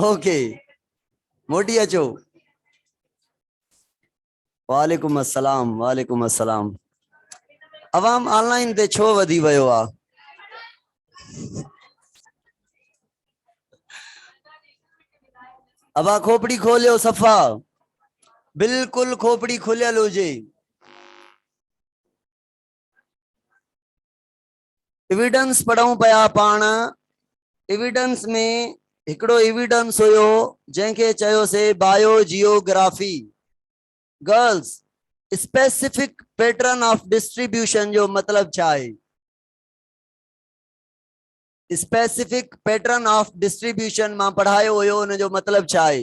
Okay موٽي اچو وعليڪم السلام وعليڪم السلام عوام آن لائن تي ڇو وڌي ويو آ ابا کوپڙي کوليو صفا بالکل کوپڑي کليل هجي ايويڊنس پڙهون پيا پاڻ ايويڊنس ۾ هڪڙو ايويڊنس هيو جنهن کي چيوسي bio geography girls specific pattern of distribution جو مطلب ڇا آهي اسپيسيفڪ پيٽرن آف ڊسٽريبيوشن مان پڙهايو هيو ان جو مطلب ڇا آهي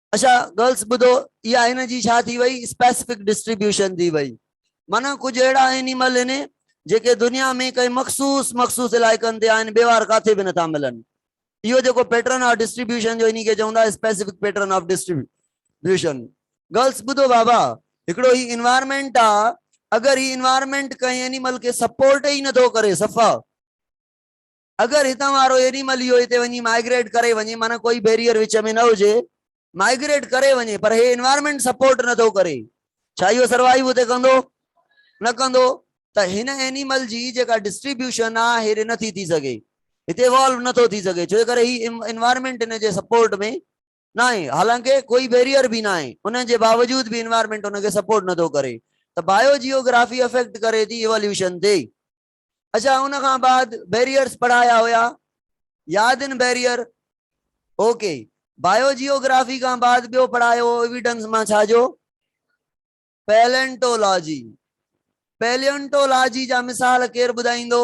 اچا گرلس ٻڌو اها هن جي ڇا ٿي وئي اسپيسفڪ ڊسٽريبيوشن ٿي وئي معنيٰ ڪجهه اهڙا اينيمل هن جيڪي دنيا ۾ ڪئين مخصوص مخصوص علائقن تي آهن ٻيوار ڪاٿي به نٿا ملن اهو جيڪو پيٽرن آف ڊسٽريبيوشن جو انهي کي چون ٿا specific pattern of distribution girls ٻڌو بابا هڪڙو هي انوائرمينٽ آ اگر هي انوائرمينٽ ڪئين اينيمل کي سپورٽ ئي نٿو ڪري صفا اگر هتان وارو اينيمل اهو هتي وڃي مائگريٽ ڪري وڃي معنيٰ ڪوئي بيريئر وچ ۾ نه هجي مائگريٽ ڪري وڃي پر هي انوائرمينٽ سپورٽ نٿو ڪري ڇا اهو سروائيو هتي ڪندو نه ڪندو ته هن اينيمل جي جيڪا ڊسٽريبيوشن آ هي ري نٿي ٿي سگهي هتي ايوالو نٿو ٿي سگهي ڇو جي ڪري هي انوائرمينٽ هن جي سپورٽ ۾ ناهي حالانڪه ڪوئي بيريئر به ناهي ان جي باوجود به انوائرمينٽ ان کي سپورٽ نٿو ڪري ته بايو جيوگرافي افيڪٽ ڪري ٿي ايواليوشن تي اچا ان کان بعد بيريئرس پڙهايا هيا ياد ان barrier okay bio geography کان بعد ٻيو پڙهايو ايويڊنس مان ڇا جو پيلنٽولاجي پيلنٽولاجي جا مثال ڪير ٻڌائيندو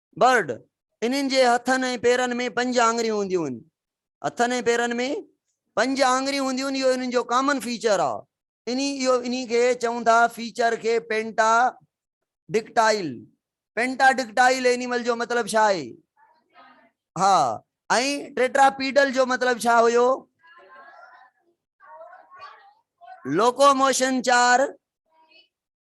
Bird، انهن جي هٿن ۽ پيرن ۾ پنج آڱريون هونديون آهن. هٿن ۽ پيرن ۾ پنج آڱريون هونديون آهن، اهو انهن جو ڪامن فيچر آهي. انهي اهو انهي کي چون ٿا فيچر کي پينٽا ڊڪٽائل، Pentadactyl، اينيمل جو مطلب ڇا آهي؟ ها ۽ ٽيٽراپيڊل جو مطلب ڇا هيو؟ لوڪوموشن چار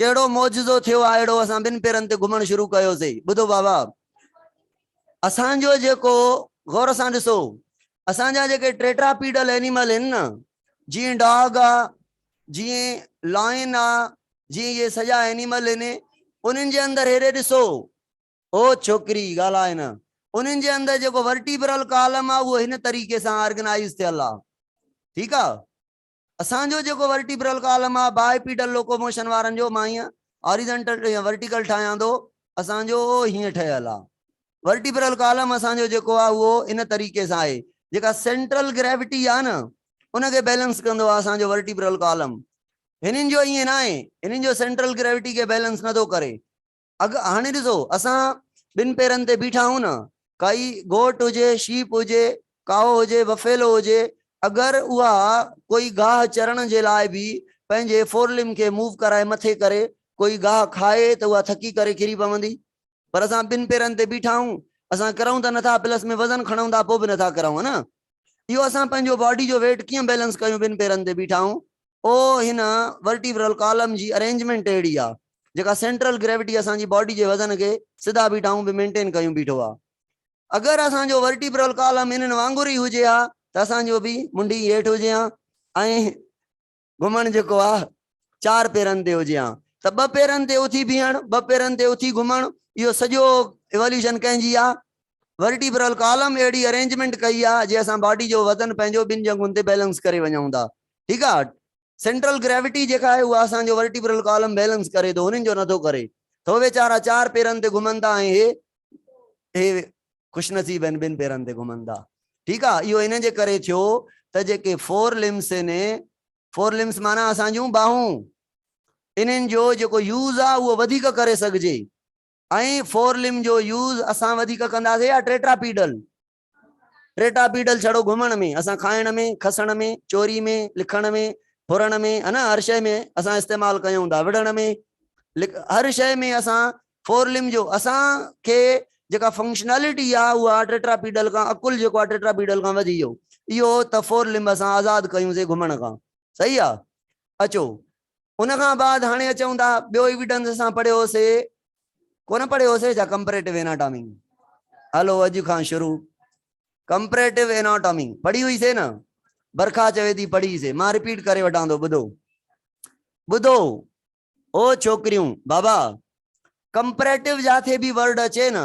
ڪهڙو معجزو ٿيو آهي اهڙو اسان ٻن پيرن تي گهمڻ شروع ڪيوسين. ٻڌو بابا! اسان جو جيڪو، غور سان ڏسو، اسان جا جيڪي ٽيٽراپيڊل اينيمل هن نه، جيئن ڊاگ آ، جيئن لائن آ، جيئن اهي سڄا اينيمل هن، انهن جي اندر هيڏي ڏسو، او ڇوڪري ڳالهاء نه، انهن جي اندر جيڪو ورٽيبرل ڪالم آ اهو هن طريقي سان آرگنائيز ٿيل آ. ٺيڪ آ؟ اسان جو جيڪو ورٽيبرل ڪالم آ بائي پيڊل لوڪوموشن وارن جو مان هيئن هاريزنٽل يا ورٽيڪل ٺاهيان ٿو اسان جو اهو هيئن ٺهيل آ ورٽيبرل ڪالم اسان جو جيڪو آ اهو ان طريقي سان آهي جيڪا سينٽرل گريوٽي آ نه ان کي بيلنس ڪندو آ اسان جو ورٽيبرل ڪالم هنن جو ائين ناهي هنن جو سينٽرل گريوٽي کي بيلنس نٿو ڪري اگهه هاڻي ڏسو اسان ٻن پيرن تي بيٺا آهيون نه، ڪائي گهوٽ هجي، شيپ هجي، ڪائو هجي، بفيلو هجي، اگر اها ڪوئي گاهه چرڻ جي لاء به پنهنجي فورلم کي موو ڪرائي مٿي ڪري ڪوئي گاهه کائي ته اها ٿڪي ڪري ڪري پوندي. پر اسان ٻن پيرن تي بيٺا آهيون، اسان ڪرون ته نٿا پلس ۾ وزن کڻون ٿا پوء به نٿا ڪرون ها نه. اهو اسان پنهنجو باڊي جو ويٽ ڪيئن بيلنس ڪيون ٻن پيرن تي بيٺا آهيون او هن ورٽيبرل ڪالم جي ارينجمينٽ اهڙي آ جيڪا سينٽرل گريوٽي اسان جي باڊي جي وزن کي سڌا بيٺائون به مينٽين ڪيون بيٺو آ اگر اسان جو ورٽيبرل ڪالم انهن وانگر ئي هجي ها ته اسان جو به منڊي هيٺ هجي ها ۽ گهمڻ جيڪو آ چار پيرن تي هجي ها ته ٻه پيرن تي اٿي بيهڻ ٻه پيرن تي اٿي گهمڻ اهو سڄو ايواليوشن ڪنهن جي آ ورٽيبرل ڪالم اهڙي ارينجمينٽ ڪئي آ جي اسان باڊي جو وزن پنهنجو ٻن ڄنگهن تي بيلنس ڪري وڃون ٿا ٺيڪ آ سينٽرل گريوٽي جيڪا آهي اها اسان جو ورٽيبرل ڪالم بيلنس ڪري ٿو هنن جو نه ٿو ڪري ته هو ويچارا چار پيرن تي گهمن ٿا ۽ هي هي خوش نصيب آهن ٻن پيرن تي گهمن ٿا ٺيڪ آ اهو ان جي ڪري ٿيو ته جيڪي فور لمس آهن فور لمس معنيٰ اسان جون باهون انهن جو جيڪو يوز آ اهو وڌيڪ ڪري سگهجي ۽ فور لم جو يوز اسان وڌيڪ ڪنداسين يا ٽيٽرا پيڊل ٽيٽا پيڊل ڇڙو گهمڻ ۾ اسان کائڻ ۾ کسڻ ۾ چوري ۾ لکڻ ۾ ڦرڻ ۾ هن هر شئي ۾ اسان استعمال ڪيون ٿا وڙهڻ ۾ هر شئي ۾ اسان فورلم جو اسان کي جيڪا فنڪشنالٽي آهي اها ٽيٽا پيڊل کان عقل جيڪو آهي ٽيٽا پيڊل کان وڌي ويو اهو ته فورلم اسان آزاد ڪيون سي گهمڻ کان صحيح آهي اچو ان کان بعد هاڻي اچون ٿا ٻيو ايويڊنس اسان پڙهيو سي ڪونه پڙهيو سي جا ڪمپريٽو اناٽامي هلو اڄ کان شروع ڪمپريٽو اناٽامي پڙهي هئي سي نه برکا چوي ٿي پڙهي سي مان رپيٽ ڪري وٺان ٿو ٻڌو ٻڌو او ڇوڪريون بابا ڪمپريٽو جاٿي به ورڊ اچي نه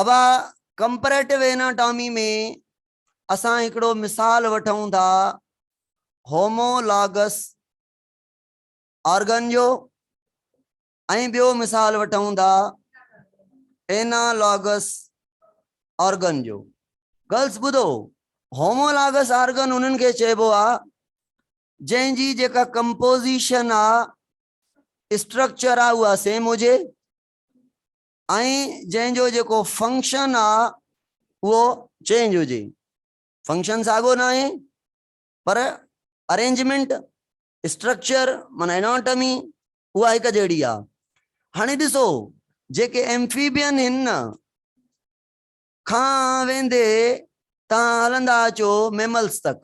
اھا ڪمپريٽو ايناٽامي ۾ اسان ھڪڙو مثال وٺون ٿا ھومو لاگس آرگن جو ۽ ٻيو مثال وٺون ٿا اينا لاگس آرگن جو گرلس ٻڌو ھومو لاگس آرگن انھن کي چئبو آ جنھن جي جيڪا ڪمپوزيشن آ اسٽرڪچر آ اها سيم هجي ۽ جنهن جو جيڪو فنڪشن آ اهو چينج هجي فنڪشن ساڳو ناهي پر ارينجمينٽ اسٽرڪچر معنيٰ اناٽمي اها هڪ جهڙي آ هاڻي ڏسو جيڪي ايمفيبين هن نه کان ويندي تان هلندا اچو ميملس تڪ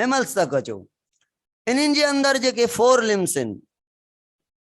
ميملس تڪ اچو انهن جي اندر جيڪي فور لمس هن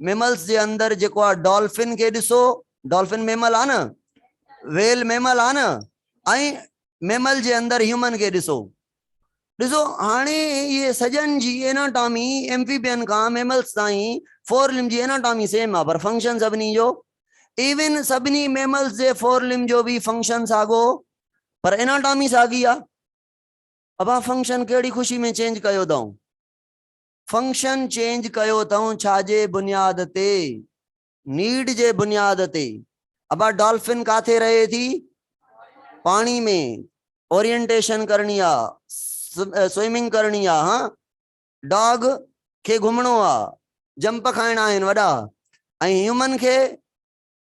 ميملز جي اندر جيڪو آ ڊالفن کي ڏسو ڊالفن ميمل آ نه ويل ميمل آ نه ائين ميمل جي اندر هيومن کي ڏسو ڏسو هاڻي اهي سڄن جي ايناٽامي ايمفيبين کان ميملز تائين فور لم جي ايناٽامي سيم آ پر فنڪشن سڀني جو ایون سڀني ميملز جي فور لم جو به فنڪشن ساڳو پر ايناٽامي ساڳي آ ابا فنڪشن کيڙي خوشي ۾ چينج ڪيو دائون فنڪشن چينج ڪيو تئون ڇاجي بنياد تي نيڊ جي بنياد تي ابا ڊالفن ڪاٿي رهي ٿي پاڻي ۾ اورينٽيشن ڪرڻي آ سوئمنگ ڪرڻي آ ها ڊاگ کي گهمڻو آ جمپ کائڻا آهن وڏا ۽ هيومن کي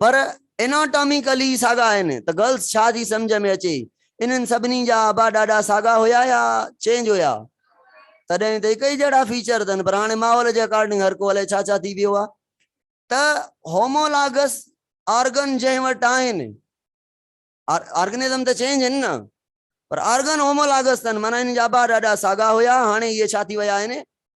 پر Anatomically ساڳا آهن ته Girls ڇا ٿي سمجهه ۾ اچي انهن سڀني جا ابا ڏاڏا ساڳا هيا يا Change هيا تڏهن ته هڪ ئي جهڙا فيچر اٿن پر هاڻي ماحول جي اڪارڊنگ هر ڪو الائي ڇا ڇا ٿي ويو آهي ته Homologous آرگن جنهن وٽ آهن آرگنزم ته چينج آهن نه پر آرگن Homologous اٿن معنيٰ انهن جا ابا ڏاڏا ساڳا هيا هاڻي اهي ڇا ٿي ويا آهن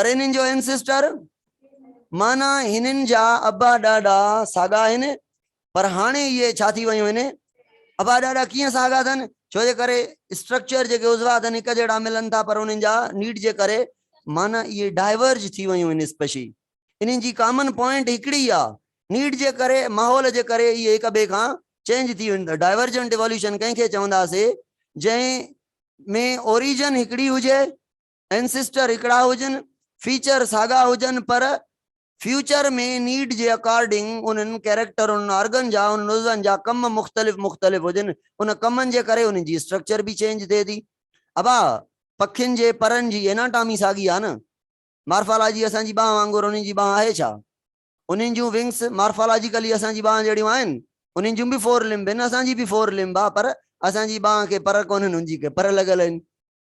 پر انهن جو Ancestor معنيٰ هنن جا ابا ڏاڏا ساڳا آهن پر هاڻي اهي ڇا ٿي ويون آهن؟ ابا ڏاڏا ڪيئن ساڳا اٿن؟ ڇو جي ڪري Structure جيڪي عضوا اٿن هڪ جهڙا ملن ٿا پر انهن جا Need جي ڪري معنيٰ اهي Diverge ٿي ويون آهن Species انهن جي Common Point هڪڙي ئي آهي Need جي ڪري ماحول جي ڪري اهي هڪ ٻئي کان Change ٿي ويون Divergent Evolution ڪنهن کي چونداسين جنهن ۾ Origin هڪڙي هجي ٽرانسسٽر هڪڙا هجن، فيچر ساڳا هجن پر فيوچر ۾ نيڊ جي اڪارڊنگ انهن ڪيريڪٽر، انهن آرگن جا، انهن عضون جا ڪم مختلف مختلف هجن، ان ڪمن جي ڪري انهن جي اسٽرڪچر به چينج ٿئي ٿي. ابا پکين جي پرن جي ايناٽامي ساڳي آهي نه؟ مارفالاجي اسان جي ٻانهن وانگر انهن جي ٻانهن آهي ڇا؟ انهن جون ونگس مارفالاجيڪلي اسان جي ٻانهن جهڙيون آهن، انهن جون به فور لمب آهن، اسان جي به فور لمب آهي پر اسان جي ٻانهن کي پر ڪونهن، انهن جي کي پر لڳل آهن.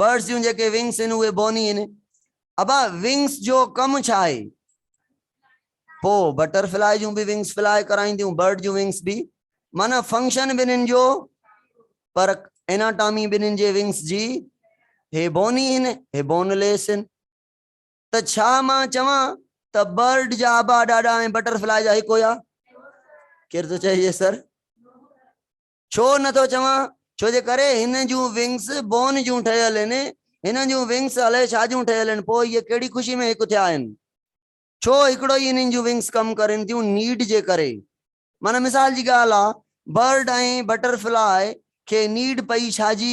برڊس جون جيڪي ونگس آهن اهي بوني آهن ابا ونگس جو ڪم ڇا آهي پو بٽر فلائي جون به ونگس فلائي ڪرائينديون برڊ جون ونگس به معنی فنڪشن ٻنهن جو پر اناٽامي ٻنهن جي ونگس جي هي بوني آهن هي بون ليس آهن ته ڇا مان چوان ته برڊ جا ابا ڏاڏا ۽ بٽر فلائي جا هڪ هيا ڪير ٿو چئي سر ڇو نه ٿو چوان ڇو جي ڪري هن جون ونگس بون جون ٺهيل هن هن جون ونگس الائي ڇا جون ٺهيل هن پوء هي ڪهڙي خوشي ۾ هڪ ٿيا آهن ڇو هڪڙو ئي هنن جون ونگس ڪم ڪرين ٿيون نيڊ جي ڪري معنيٰ مثال جي ڳالهه آ برڊ ۽ بٽر فلاء کي نيڊ پئي ڇا جي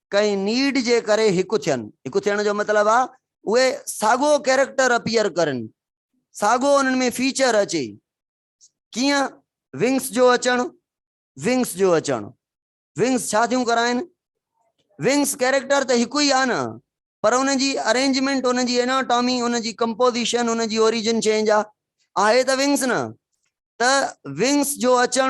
ڪنهن نيڊ جي ڪري هڪ ٿين. هڪ ٿيڻ جو مطلب آ اهي ساڳو ڪيريڪٽر اپيئر ڪرن، ساڳو انهن ۾ فيچر اچي. ڪيئن؟ ونگس جو اچڻ، Wings جو اچڻ، Wings ڇا ٿيون ڪرائين؟ Wings ڪيريڪٽر ته هڪ ئي آ نه، پر ان جي ارينجمينٽ، ان جي اناٽامي، ان جي ڪمپوزيشن، ان جي اوريجن چينج آ. آهي ته ونگس نه. ته ونگس جو اچڻ،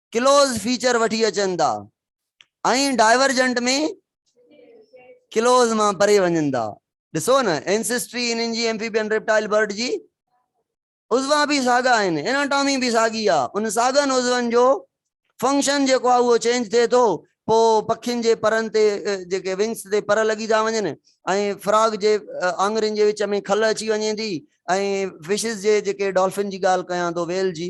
ڪلوز فيچر وٺي اچن ٿا ۽ ڊائيورجنٽ ۾ ڪلوز مان پري وڃن ٿا ڏسو نه اينسيسٽري انهن جي ايمفيبين ريپٽائل برڊ جي عضوا به ساڳا آهن اناٽامي به ساڳي آ ان ساڳن عضون جو فنڪشن جيڪو آ اهو چينج ٿئي ٿو پو پکين جي پرن تي جيڪي ونگس تي پر لڳي ٿا وڃن ۽ فراگ جي آڱرين جي وچ ۾ کل اچي وڃي ٿي ۽ فشز جي جيڪي ڊالفن جي ڳالهه ڪيان ٿو ويل جي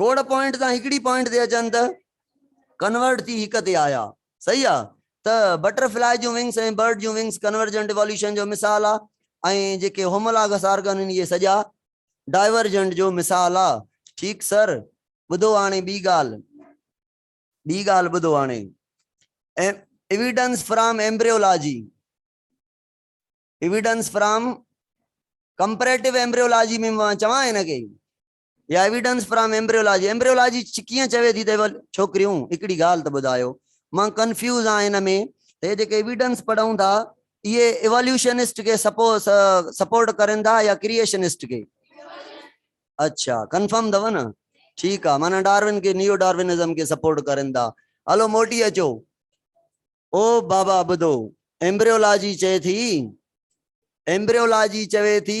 ڪوڊ پوائنٽ تان هڪڙي پوائنٽ تي اچن ته ڪنورٽ ٿي هڪ تي آيا صحيح آ ته بٽر فلائي جون ونگس ۽ برڊ جون ونگس ڪنورجنٽ ايواليوشن جو مثال آ ۽ جيڪي هومولاگس آرگن آهن اهي سڄا ڊائيورجنٽ جو مثال آ ٺيڪ سر ٻڌو هاڻي ٻي ڳالهه ٻي ڳالهه ٻڌو هاڻي evidence from embryology evidence from comparative embryology ۾ چوان هن کي يا ايويڊنس فرام ايمبريولاجي ايمبريولاجي ڪيئن چوي ٿي ته ڇوڪريون هڪڙي ڳالهه ته ٻڌايو مان ڪنفيوز آهيان ان ۾ ته هي جيڪي ايويڊنس پڙهون ٿا اهي ايواليوشنسٽ کي سپورٽ ڪرين ٿا يا ڪريئشنسٽ کي اچھا ڪنفرم اٿو نه ٺيڪ آ معنيٰ ڊارون کي نيو ڊارونزم کي سپورٽ ڪرين ٿا هلو موٽي اچو او بابا ٻڌو ايمبريولاجي چئي ٿي ايمبريولاجي چوي ٿي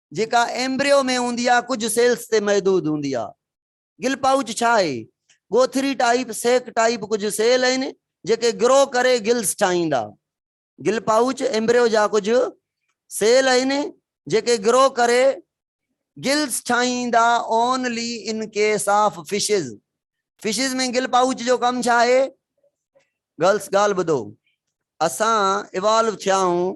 جيڪا ايمبريو ۾ هوندي آهي ڪجهه سيلز تي محدود هوندي آهي. گل پائوچ ڇا آهي؟ ڳوٿري ٽائيپ، سيڪ ٽائيپ ڪجهه سيل آهن جيڪي گرو ڪري گلز ٺاهيندا. گل پائوچ ايمبريو جا ڪجهه سيل آهن جيڪي گرو ڪري گلز ٺاهيندا only in case of fishes. Fishes ۾ gill pouch جو ڪم ڇا آهي؟ گرلس ڳالهه ٻڌو اسان ايوالو ٿيا آهيون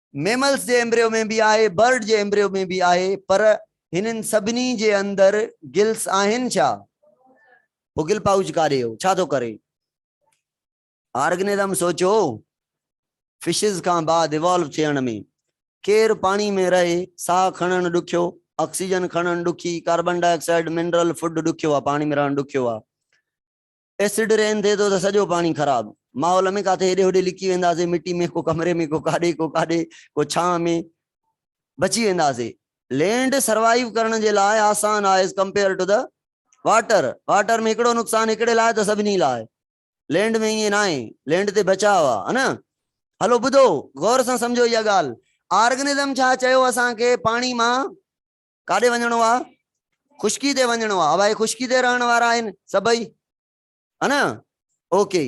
ميملز جي ايمبريو ۾ به آهي، برڊ جي ايمبريو ۾ به آهي، پر هنن سڀني جي اندر گلس آهن ڇا؟ پوء گل پائوچ ڪاڏي هو، ڇا ٿو ڪري؟ آرگنزم سوچو، فشز کان بعد ايوالو ٿيڻ ۾ ڪير پاڻي ۾ رهي، ساهه کڻڻ ڏکيو، آڪسيجن کڻڻ ڏکي، carbon dioxide, mineral food ڏکيو آهي، پاڻي ۾ رهڻ ڏکيو آهي. ايسڊ رين ٿئي ٿو ته سڄو پاڻي خراب، ماحول ۾ ڪاٿي هيڏي هوڏي لڪي وينداسين، مٽي ۾ ڪو ڪمري ۾ ڪو ڪاڏي ڪو ڪاڏي ڪو ڇانء ۾ بچي وينداسين. لينڊ سروائيو ڪرڻ جي لاء آسان آهي as compare to the water, water ۾ هڪڙو نقصان هڪڙي لاء ته سڀني لاء لينڊ ۾ ائين ناهي، لينڊ تي بچاء آ ها نه. هلو ٻڌو غور سان سمجهو اها ڳالهه، آرگنزم ڇا چيو اسان کي پاڻي مان ڪاڏي وڃڻو آ خشڪي تي وڃڻو آ ابا هي خشڪي تي رهڻ وارا آهن سڀئي ها نه اوڪي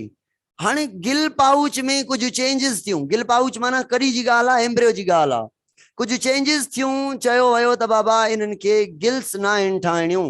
هاڻي گل پاؤچ ۾ ڪجهه چينجز ٿيون گل پاؤچ معنی ڪڏي جي ڳالهه آ ايمبريو جي ڳالهه آ ڪجهه چينجز ٿيون چيو ويو ته بابا انهن کي گلس ناهن ٺاهڻيون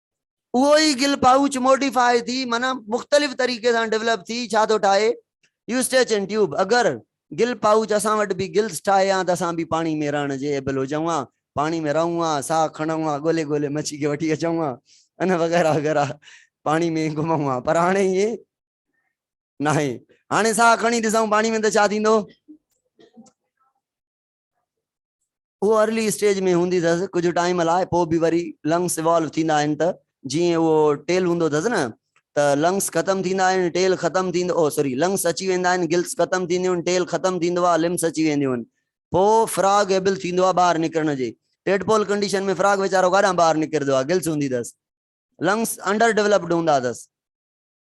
اهو ئي گل پائوچ موڊيفاء ٿي معنيٰ مختلف طريقي سان ڊولپ ٿي ڇا ٿو ٺاهي يوسٽيچ ۽ ٽيوب اگر گل پائوچ اسان وٽ به گلز ٺاهي ها ته اسان به پاڻي ۾ رهڻ جي ايبل هجون ها پاڻي ۾ رهون ها ساهه کڻون ها ڳولي ڳولي مڇي کي وٺي اچون ها ان وغيره وغيره پاڻي ۾ گهمون ها پر هاڻي ائين ناهي هاڻي ساهه کڻي ڏسون پاڻي ۾ ته ڇا ٿيندو اهو ارلي اسٽيج ۾ هوندي اٿس ڪجهه ٽائيم لاء پوء به وري لنگس ايوالو ٿيندا آهن ته جيئن اهو ٽيل هوندو اٿس نه ته لنگس ختم ٿيندا آهن ٽيل ختم ٿيندو او سوري لنگس اچي ويندا آهن گلس ختم ٿينديون آهن ٽيل ختم ٿيندو آهي لمس اچي وينديون آهن پوء فراگ ايبل ٿيندو آهي ٻاهر نڪرڻ جي ٽيڊپول ڪنڊيشن ۾ فراگ ويچارو ڪاڏانهن ٻاهر نڪرندو آهي گلس هوندي اٿس لنگس انڊر ڊيولپڊ هوندا اٿس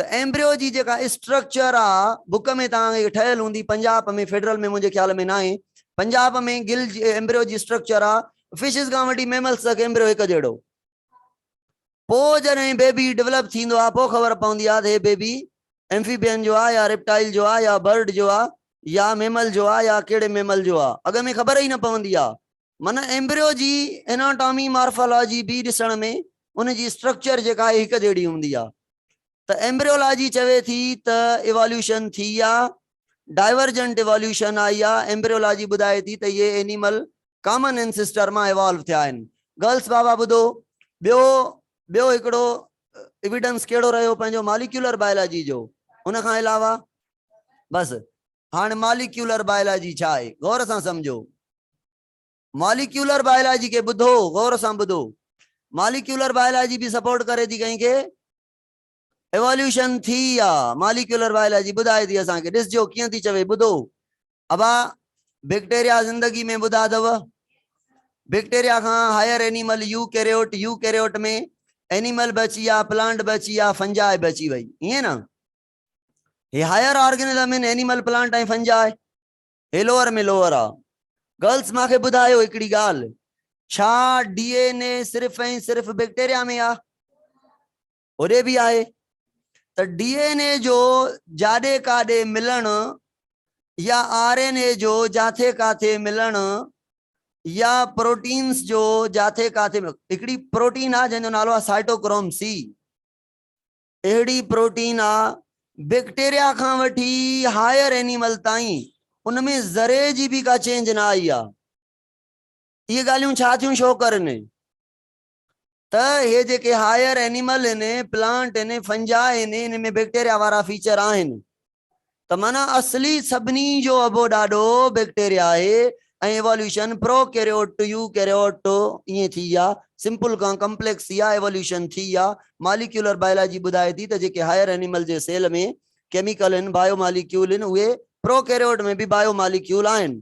ته ايمبريو جي جيڪا اسٽرڪچر آ بڪ ۾ توهان کي ٺهيل هوندي پنجاب ۾ فيڊرل ۾ منهنجي خيال ۾ ناهي پنجاب ۾ گل جي ايمبريو جي اسٽرڪچر آ فشز کان وٺي ميملز تڪ ايمبريو هڪ جهڙو پو جڏهن بيبي ڊولپ ٿيندو آ پو خبر پوندي آ ته هي بيبي ايمفيبين جو آ يا ريپٽائل جو آ يا برڊ جو آ يا ميمل جو آ يا ڪهڙي ميمل جو آ اڳ ۾ خبر ئي نه پوندي آ من ايمبريو جي اناٽامي مارفالاجي بي ڏسڻ ۾ ان جي اسٽرڪچر جيڪا آهي هڪ جهڙي هوندي آهي ته ايمبريولاجي چوي ٿي ته ايواليوشن ٿي يا ڊائيورجنٽ ايواليوشن آئي يا ايمبريولاجي ٻڌائي ٿي ته اهي اينيمل ڪامن انسيسٽر مان ايوالو ٿيا آهن گرلس بابا ٻڌو ٻيو ٻيو هڪڙو ايويڊنس ڪهڙو رهيو پنهنجو ماليڪيولر بايولاجي جو ان کان علاوه بس هاڻ ماليڪيولر بائلاجي ڇا آهي؟ غور سان سمجهو. ماليڪيولر بائلاجي کي ٻڌو، غور سان ٻڌو. ماليڪيولر بائلاجي به سپورٽ ڪري ٿي ڪنهن کي؟ ايواليوشن ٿي آ. ماليڪيولر بائلاجي ٻڌائي ٿي اسان کي. ڏسجو ڪيئن ٿي چوي. ٻڌو. ابا بيڪٽيريا زندگي ۾ ٻڌا اٿو. بيڪٽيريا کان higher animal eukaryote, eukaryote ۾ animal به اچي ويا، پلانٽ به اچي ويا، فنجاء به اچي وئي. ائين نه؟ هي هائر آرگنزم ان اينيمل پلانٽ ۽ فنجاء هي لوئر ۾ لوئر آ گرلس ماکي ٻڌايو هڪڙي ڳالهه ڇا ڊي اين اي صرف ۽ صرف بيڪٽيريا ۾ آ هوڏي به آهي ته ڊي اين اي جو جاڏي ڪاڏي ملڻ يا آر اين اي جو جاٿي ڪاٿي ملڻ يا پروٽينس جو جاٿي ڪاٿي هڪڙي پروٽين آ جنهن جو نالو آ سائٽوڪروم سي اهڙي پروٽين آ بيڪٽيريا کان وٺي هائر اينيمل تائين ان ۾ ذري جي به ڪا چينج نه آئي آ. اهي ڳالهيون ڇا ٿيون شو ڪرن ته اهي جيڪي هائر اينيمل هن، پلانٽ هن، فنجاء هن، ان ۾ بيڪٽيريا وارا فيچر آهن ته معنيٰ اصلي سڀني جو ابو ڏاڏو بيڪٽيريا آهي ۽ evolution prokaryote to eukaryote to ائين ٿي يا سمپل کان ڪمپليڪس يا ايواليوشن ٿي يا ماليڪيولر بايولاجي ٻڌائي ٿي ته جيڪي هائير اينيمل جي سيل ۾ ڪيميڪل هن بايو ماليڪيول هن اهي پرو ڪيريوٽ ۾ به بايو ماليڪيول آهن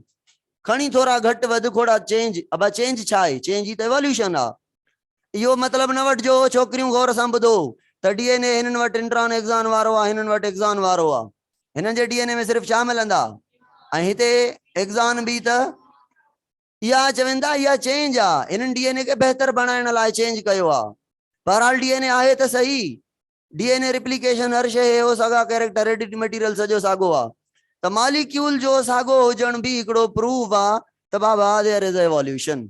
کڻي ٿورا گهٽ وڌ کوڙا چينج ابا چينج ڇا آهي چينج ئي ته ايواليوشن آهي اهو مطلب نه وٺجو هو ڇوڪريون غور سان ٻڌو ته ڊي اين اي هنن وٽ انٽران ايگزان وارو آ هنن وٽ ايگزان وارو آ هنن جي ڊي اين اي ۾ صرف ڇا ملندا ۽ هتي ايگزان به ته اها چون ٿا اها چينج آ هنن ڊي اين اي کي بهتر بڻائڻ لاء چينج ڪيو آ بهرحال ڊي اين اي آهي ته صحيح ڊي اين اي ريپليڪيشن هر شي هي هو ساڳا ڪيريڪٽر ايڊٽ ميٽيريل سڄو ساڳو آ ته ماليڪيول جو ساڳو هجڻ به هڪڙو پروف آ ته بابا ديئر از ايواليوشن